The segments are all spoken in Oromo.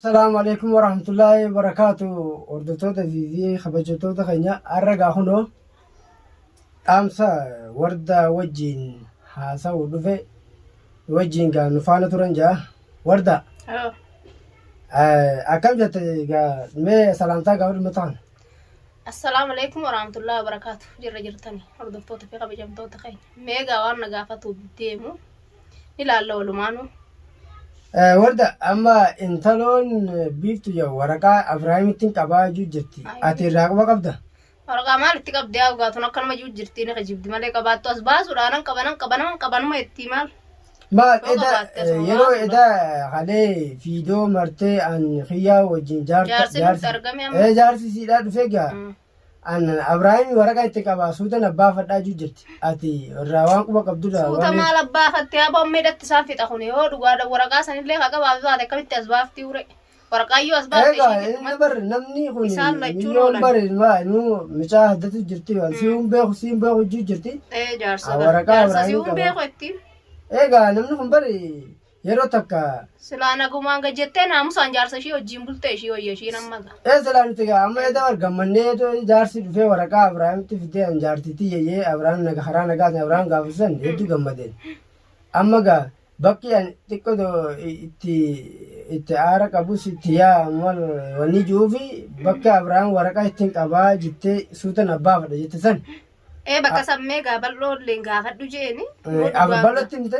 Salaamu alaikum warahmatullahi wabarakaatu hordoftoota viivii kabajamtoota keenya har'a gaa kunoo dhaamsa warda wajjiin haasa'u dhufe wajjiin gaa nu faana turan jaa warda Oh, eh, akkam jette gaa mee salaamtaa gaa warri mata kana Assalaamu alaikum warahmatullahi wabarakaatu jirra jirtani hordoftoota fi kabajamtoota keenya meegaa waan na gaafatu deemu ilaalla walumaanu. Warda amma intaloon biiftu jedhu waraqaa Abiraahimittiin qabaa jechuu jirti. Ati irraa quba qabda? Waraqaa maal itti qabdi yaa dhugaatuun akkanuma juu jirti ni kijibdi malee qabaattu as baasuudha nan qaba nan qaba naman qabanuma itti maal. Maal Yoo eda qabaatte asuma yeroo baasuudha. eda halee fiidoo martee an kiyyaa wajjin jaarta Jaarsi nutti argame amma. Eh, jaarsi siidhaa dhufee gaa Mm. Abrahaami waraqaa itti qabaa suutan abbaa fadhaa juu jirti. Ati irraa waan quba qabdurraa Suuta waan maal abbaa fattee aboo amma hidhatti isaan fixa kun yoo dhugaadha waraqaa sanillee haa qabaatu taate akkamitti as baaftii ure. Waraqaa iyyuu as baafte Egaa ishee inni gidduutti. bar namni kun Isaan lachuun miliyoon oolan. bar ilmaa ilmoo mucaa haddatu jirti waan si hin beeku si hin beeku juu jirti. Ee jaarsa Ah, waraqaa jaarsa si Abrahaamii hin qaba. beeku ittiin. Egaa namni kun bar Yeroo takka. Silaa nagumaan gad jettee naamusaan jaarsa ishii wajjin bultee ishii wayya ishiin amma ga. Ee silaa nuti gaa amma edda wal gammannee edoo jaarsi dhufee waraqaa Abrahaamitti fidee an jaartiitti yeyyee Abrahaam naga karaa nagaatiin Abrahaam gaafasisan hedduu gammadeen. Amma gaa bakki an xiqqoo do- i- itti itti aara qabus itti yaa mal wanni ji'uufi bakka Abrahaam waraqaa ittiin qabaa jettee suutan abbaafadha jette san Ee bakka sammee gaa bal'oo illee gaafadhu jeeni. eh, Abbalatti himte.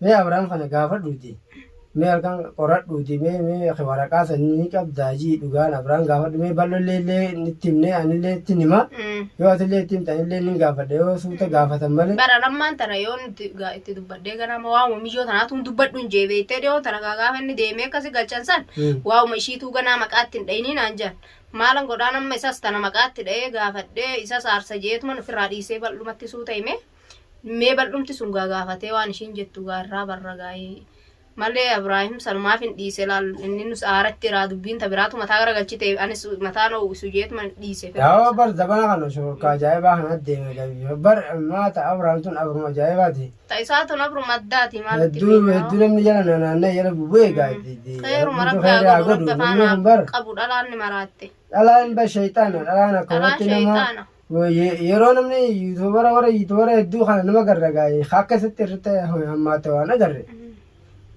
Mee Abrahaam kana gaafadhuuti. Mee halkan qoradhuuti. Mee mee ati waraqaa san ni qabdaa jii dhugaan Abrahaam gaafadhu. Mee bal'ollee illee nitti himnee anillee ittiin hima. Mm. Yoo atillee itti himte anillee nin gaafadha. Yoo suuta gaafatan malee. Bara lammaan tana yoo nuti gaa itti dubbadhee gara amma waa'uma miyyoo tanaatu hin dubbadhu hin jee beektee dhiyoon tana gaa gaafa inni deemee akkasi galchan san Mm. waa'uma ishiituu ganaa maqaatti hin dhayinii naan jedhan. Maalan godhaan amma isas tana maqaatti dhayee gaafadhee isas aarsa jeetuman ofirraa dhiisee bal'umatti suuta himee. mee bal'umti sun gaa gaafatee waan ishiin jettu gaarraa barra gaa'ee malee Abiraahim sanumaaf hin dhiise laal inni nus aaratti iraa dubbiin ta biraatu mataa gara galchite anis mataa na uwwisu jeetuma dhiise Daawaa bar zabana kana shururkaa ajaa'ibaa kana deeme gabiyyoo bar maata Abrahaam tun abruma ajaa'ibaati. ta isaa tun abruma addaati maal itti Hedduu beekna? hedduu namni jala naannaa jala bubu'ee gaaddi. Kheeruma rabbi haa godhu rabbi afaan haa qabu dhalaan ni maraatte dhalaan bar shayxaana dhalaan akkanatti Dhalaan nama shayxaana. Yeroo namni yuutuubara warra yuutuubara hedduu kana nama garra gaa'e akka isatti irratti hammaate waan agarre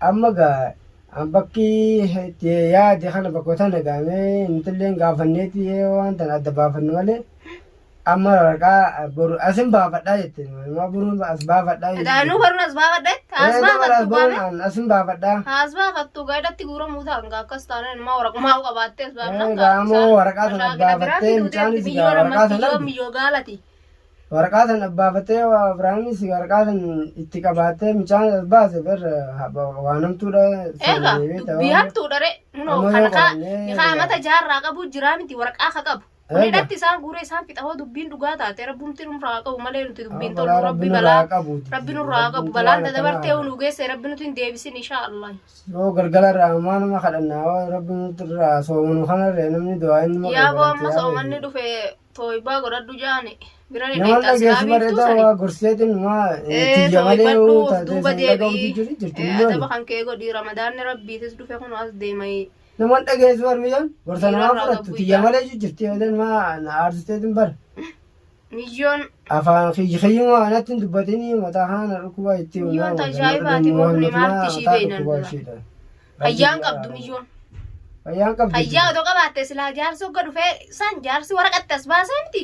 amma gaa bakki itti yaade kana bakka tana gaamee nutilleen gaafanneeti waan tana adda baafannu malee amma waraqaa boru asin baafadhaa jette Maa boruun as baafadhaa. Dhaanuu baruun as baafadha. As baafattu baame. Asin baafadha. As baafattu gaadatti guuramuu ta'a. Ngaa akkas taanaan ilmaa waraqummaa qabaattee as baafna. Gaamoo waraqaa sana baafattee mucaanis gaa waraqaa sana argu. Miyyoo gaalati. Waraqaa sana baafattee Abiraamis waraqaa sana itti qabaattee mucaan as baase bar waan hamtuudha. Egaa dubbii hamtuudha ree. Munoo kan kaa amata jaarraa qabu jiraa miti waraqaa ka qabu. Kun Eega. hidhatti isaan guuree isaan fixa hoo dubbiin dhugaa taate rabbumti nurraa haa qabu malee nuti dubbiin Amma tollu rabbi balaa rabbi nurraa haa qabu balaan dadabartee unu geesse rabbi nuti hin deebisin inshaa allah. Yoo galgala irraa ammaa nama kadhannaa yoo rabbi nuti irraa soomanu kanarree namni du'aa inni maqaa Yaa boo godhatti amma yaa soomanni bayyee. dhufe tooybaa godhadhu jaani bira ni Namoonni qeexxaa silaa dhageessu biiftuu bareedaa sani. waa gorseetiin maa Ee tiyya malee tooybadhu yoo of taatee duuba sun dhaga'uutu deebi'i. jiru jirti Ee, miliyoona. Adaba kan kee godhi ramadaanni rabbiitis dhufe kun as deemai. Namoon dhageessu barmiyyoon gorsa namaa Dhiirarraa fudhattu gabbuu tiyya ijaa. malee iyyuu jirti yoo ta'an maa na aarsisteetiin bara. Miyyoon Afaan kiyya kiyyuma anatti hin dubbatinii mataa haana dhukkubaa itti Miyyoon uumaa mataa tajaajibaati, nama mukni dhukkubaa maarti ishii mataa beeynan dhukkubaa dura. ishiidha. fayyaan qabdu miyyoon. Fayyaan qabdu. Fayyaa otoo qabaatte silaa jaarsi hogga dhufee san jaarsi waraqatti as baasee miti.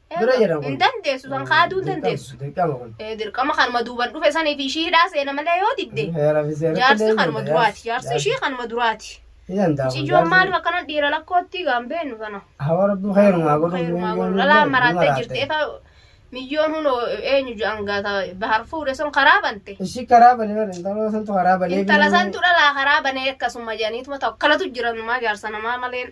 Dura jedhan kun. Hin dandeessu san kaaduu hin dandeessu. Dirqama kun. Eh, Dirqama kanuma duuban dhufe sanii fi ishii hidhaa seena malee yoo didde. Heera fi seera Jaarsi illee kanuma jira, duraati. Jaarsi ishii kanuma duraati. Ni danda'a kun Cijoo jaarsi. maaliif akkana dhiira lakkootti gaambeennu kana. Hawa rabbi khairumaa godhuuf Heerumaa miyyoo godhu. ni Dhalaa illee maraattee ni jirti. maraatte. Efa miyyoon hunoo eenyu jedhan gaata bahar fuudhe sun karaa bante. Ishii karaa banee bara intaloo santu karaa banee. Intala santu dhalaa karaa banee akkasuma jedhaniituma ta'u. Kanatu jira numaa jaarsa namaa maleen.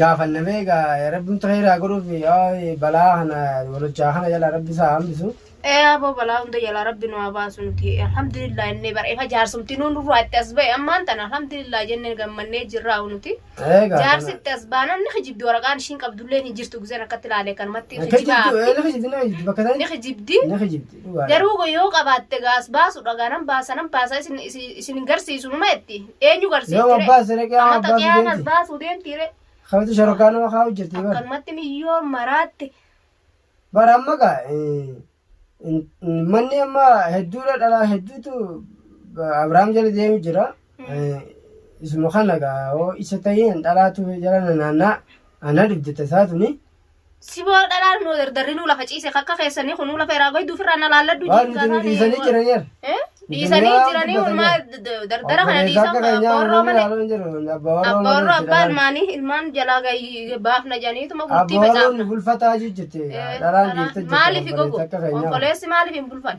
gaafanna beeka rabbimtu heeraa godhuuf balaa kana walochaa kana jala rabbi isaa hambisu. Ee aboo balaa hunda jalaa rabbi nu haa baasu nuti alhamdulillah innee bara ifa jaarsumti nuun nurraa itti as ba'e ammaan tana alhamdulillah jennee gammannee jirraa nuti. Eegaa. Jaarsi itti as baanaan ni kijibdi waraqaan ishiin qabdullee hin jirtu gizeen akkatti ilaalee kanumatti kijibaa. Kijibdi bakka Ni ta'e kijibdi. ni kijibdi. Dhugaadha. Garuu go- yoo qabaatte gaa as baasudha gaa nan baasa nan baasa isin isin- isin hin garsiisu numa jetti eenyu Yoo garsiisti abbaan siree qiyaamaa Amata abbaan qiyaamas fideeti. baasuu deemti re Kamtu shorokaa nama kaa hojjete bara. akkanumatti miyyoo maraatte Bara amma gaa eh, in- in- manni amma hedduudha dhalaa hedduutu ba- Abrahaam jala deemu jira. Eh, Isuma kana gaa hoo isa ta'een dhalaatu jala naannaa ana dhibdata isaa tuni. Siboo dhalaan moo dardarrinuu lafa ciise kakka keessanii kunuu lafa irraa goyduu ofirraa na laalladhu Waan jiin nuti nu gaafaanii. dhiisanii jiran yer. Eh? Dhiisanii jiranii walumaa dardara kana dhiisan abboorroo malee. Abboorroo abbaa ilmaanii ilmaan jalaa gahi- baafna jedhaniituma gurtii Abboorroon facaafna. bulfataa jirti. Eh, Dhalaan dhiirta jirti. Maaliif obboleessa gogo? akka keenyaa. Obboleessi maaliif hin bulfan?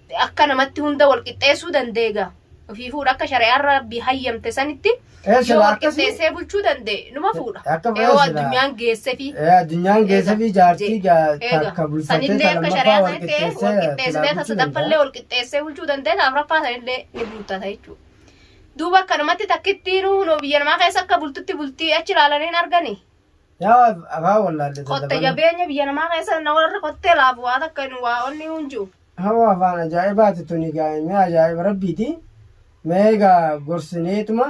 akka namatti hunda wal qixxeessuu danda'e gaa ofii fuudha akka shari'aan rabbi hayyamte sanitti Ee, yoo sila wal akkasii- qixxeessee bulchuu danda'e numa fuudha Akka yoo fayyaa sila- addunyaan geessefi Ee, addunyaan keessa fi jaartii gaa takka bulfatee sanillee akka lammaffaa shari'aa wal sanitti wal qixxeessee qixxeessitee silaa tasa bulchuu daffallee wal qixxeessee bulchuu danda'e taaf raffaa sanillee ni bultata jechuudha. Duuba akkanumatti takkittiinuu noo biyya namaa keessa akka bultutti bultii achi ilaalanii hin arganii. Yaa akaa wallaalle Qotte jabeenya biyya namaa keessa na warri qottee laafu waa takka hin waa onni hin jiru. Hawaa afaan ajaa'ibaati tuni gaa'e mee ajaa'iba rabbiiti mee egaa gorsineetuma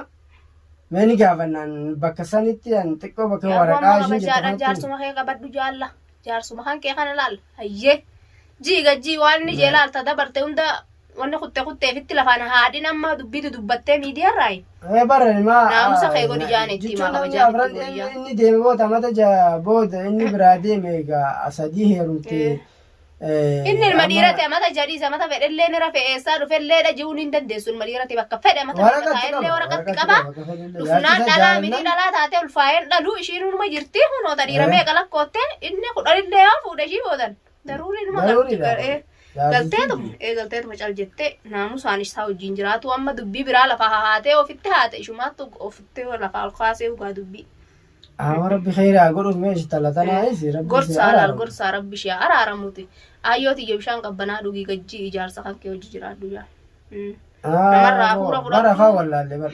mee ni gaafannaan bakka sanitti an xiqqoo bakka Yaa waraqaa waan isheen jettu habashaadhaan kanatti jaarsuma kee qabadhu jaalla. jaarsuma kan kee kana laal hayyee jiiga jii waan inni jee laalta dabarte hunda wanni kutte kutteefitti lafaan haadhin amma dubbiitu dubbattee miidiyaarraayi Ee bara ma Naamusa kee godhi jaani itti himaa jechuun namni kabajaan afran itti godhi inni jaani. inni deeme booda mata ja booda inni biraa deeme egaa asadii heerumte. inni ilma dhiirate amata jadhiisa amata fedhellee ni rafe eessaa dhufellee dhaji'uun hin dandeessu ilma dhiirate bakka fedhe amata Waraqatti taa'ellee qaba. waraqatti Waraqatti qaba qaba. Dhufnaan dhalaa miti dhalaa taatee ulfaa'een dhaluu ishiin numa jirti kunoo ta dhiira meeqa lakkootte inni kudhanillee yoo fuudhe ishii boodan daruurii numa galtee galteetuma ee galteetuma cal jettee naamusaan isaa wajjin jiraatu amma dubbii biraa lafa hahaatee ofitti haate ishumaattu ofitti lafa ol kaasee dhugaa dubbii. Amma rabbi kheyraa godhuuf mee ishtala tanaayis rabbi Gorsaa laal gorsaa rabbi ishee araaramuuti. Ayyoo tiyya bishaan qabbanaa dhugii gajjii ijaarsa kan kee hojii jiraadhu jaa. Namarraa hafuura fudhadhu. Bara faa wallaalle bara.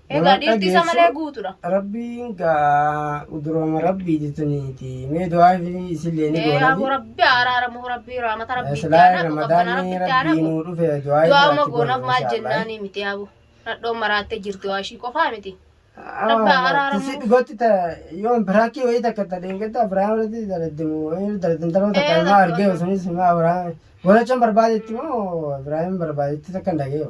Egaa dhiirti isa malee guutuudha. Rabbiin gaa durooma rabbii jetuniiti. Mee du'aa fi isillee ni goona. Yaa rabbi araaramu rabbi raamata rabbi itti aanaa qabbana rabbi itti aanaa. Rabbiin nuu dhufe du'aa fi Du'aama goonaaf maal jennaanii miti yaabu. Nadhoon maraattee jirti waa ishii qofaa miti. Rabbi araaramu. Tisi dhugatti ta yoon biraakii wayii takka ta dheengaddaa biraa irratti daladdimu wayii daladdantaroo takka ilmaa argee sunis ilmaa biraa. Godhachuun barbaadetti moo Ibraahiim barbaadetti takka hin dhageeyo.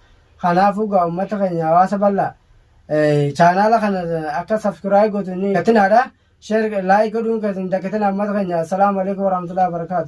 Kanaafuu gaa ummata keenya hawaasa bal'aa chaanaala kana akka subscribe gootu ni gatinaadha. Share like godhuun keessan hin dagatinaa ummata keenya. Assalaamu alaikum warahmatullahi wabarakatuh.